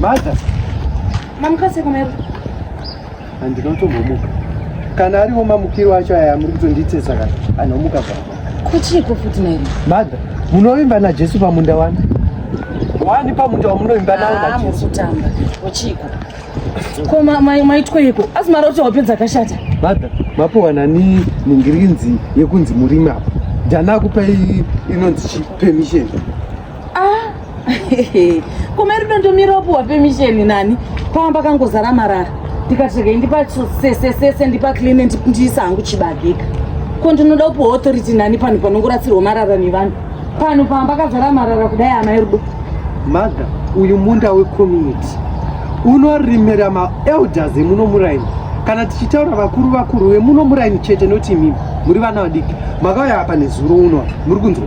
Mother. Mamuka seko mero. Handina kutombomuka. Kana ariwo mamukiro acho aya muri kutonditesa kana anomuka pa. Kuchiko futi mero. Mother, munovimba na Jesu pamunda wani? Wani pamunda wamunovimba nawo na ah, Jesu. Ah, mutamba. Kuchiko. Ko mai mai tweko. Asi mara kuti wapedza akashata. Mother, mapowa nani ningirinzi yekunzi murimi apa. Ndana kupai inonzi permission. ah koma rudo ndomira wapuhwa pemisheni nani pava pakangozara marara ndikatsvega indipa sesesese ndipa clean ndiisa hangu chibagika ko ndinoda kupuhwa authority nani pano panongorasirwa marara nevanhu pano pava pakazara marara kudai amai rudo mother uyu munda wecommunity unorimira maelders emuno muraini kana tichitaura vakuru vakuru vemuno muraini chete noti imimi muri vana vadiki makauya apa nezuro uno muri kunzwa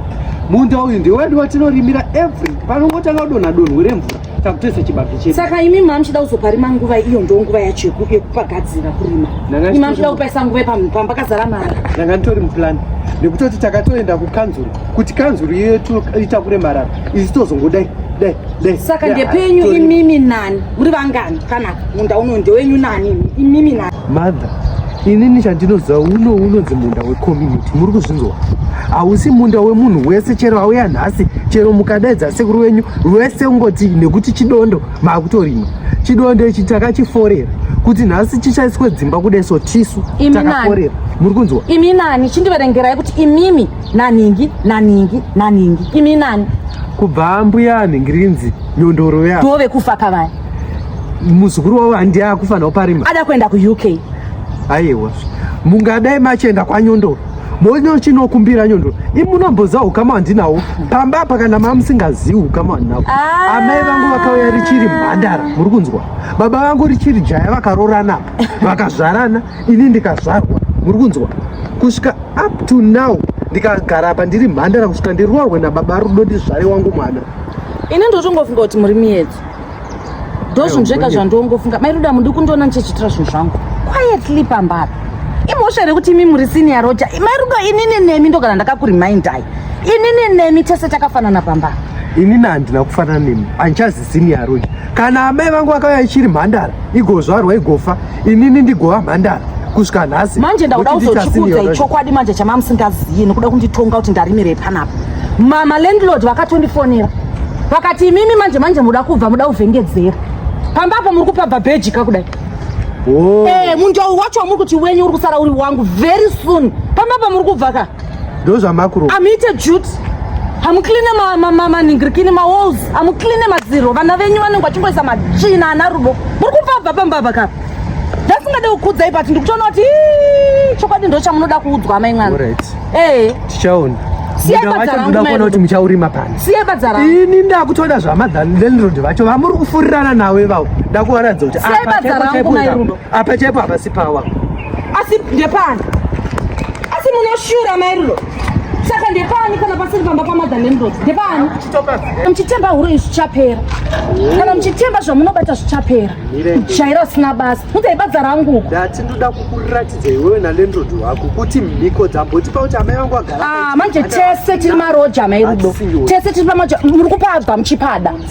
munda uyu ndewedu watinorimira every panongotanga kudonha donho remvura takutese chibage chedu saka imi mama muchida kuzoparima nguva iyo ndo nguva yacho yekupagadzira kurima imi muchida kupaisa nguva pamba kazara mara ndanga nditori muplan nekutoti takatoenda kukanzuru kuti kanzuru iyo itakure marara isu tozongodai dai dai saka ndepenyu imimi nani muri vangani kana munda uno ndewenyu nani imimi nani Mother, inini chandinoziva uno unonzi munda wecommunity muri kuzvinzwa hausi munda wemunhu wese chero auya nhasi chero mukadaidza sekuru wenyu wese ungoti nekuti chidondo maakutorima chidondo ichi takachiforera kuti nhasi chichaiswe dzimba kudai so tisu takaforera muri kunzwa imi nani chindiverengerai kuti imimi naningi naningi naningi imi nani kubva mbuya anhingirinzi nyondoro yavo ndovekufa kavaya muzukuru wavo handiye akufanira parima ada kuenda kuuk aiwa mungadai machienda kwanyondoro mono chinokumbira nyondoro imunomboza ukama wandinawo pamba apa kana mamusingazivi ukama wandinawo ah. amai vangu vakauya richiri mhandara muri kunzwa baba vangu richiri jaya vakarorana vakazvarana ini ndikazvarwa muri kunzwa kusvika up to now ndikagara apa ndiri mhandara kusvika ndiroorwe nababa rudo ndizvare wangu mwana ini ndotongofunga kuti muri miedzo ndozvinhu zvega zvandongofunga mai ruda mundi kundiona ndichichitira zvinhu zvangu quietly pamba apa imhosva here kuti imi muri sini yaroja mai rudo inini nemi ndogara ndakakurimindai inini nemi tese takafanana pamba inini handina kufanana nemi handichazi sini yaroja kana amai vangu vakauya ichiri mhandara igozvarwa igofa inini ndigova mhandara kusvika nhasi manje ndakuda kuzochikuudza ichokwadi manje chamamusingazivi nokuda kunditonga kuti ndarimirei panapa mama landlord vakatondifonera vakati imimi manje manje muda kubva muda kuvhengedzera pamba apo muri kupabva bhejika kudai oh. eh, munjau wacho wamuri kuti wenyu uri kusara uri wangu very soon pamba apa muri kubva ka ndozvamakuro amite jut hamukline maningirikini mawalls amukline madziro vana venyu vanenge vachingoisa matsvina ana rudo muri kupabva pamba apa kapa ndasingade kukudzai but ndikutoona kuti chokwadi ndo chamunoda kuudzwa amai mwana ee eh. tichaona kuti muchaurima pani ini ndakutoda zvamadhanlendrod vacho vamuri kufurirana nawo ivavo ndakuvaratidza kuti Apa chaipo hapasi pawa. Asi ndepani? Asi munoshura mairiro. Saka ndepani kana pasiri pamba pamadha nemrod? Ndepani? Muchitemba huro izvi zvichapera. Kana muchitemba zvamunobata zvichapera. Jaira usina basa. Mutaibadza rangu. Ndati ndoda kukuratidza iwewe naLendrod wako kuti mhiko dzamboti pauti amai vangu agara. Ah, manje tese tiri maroja mairudo. Tese tiri pamaja muri kupabva muchipada.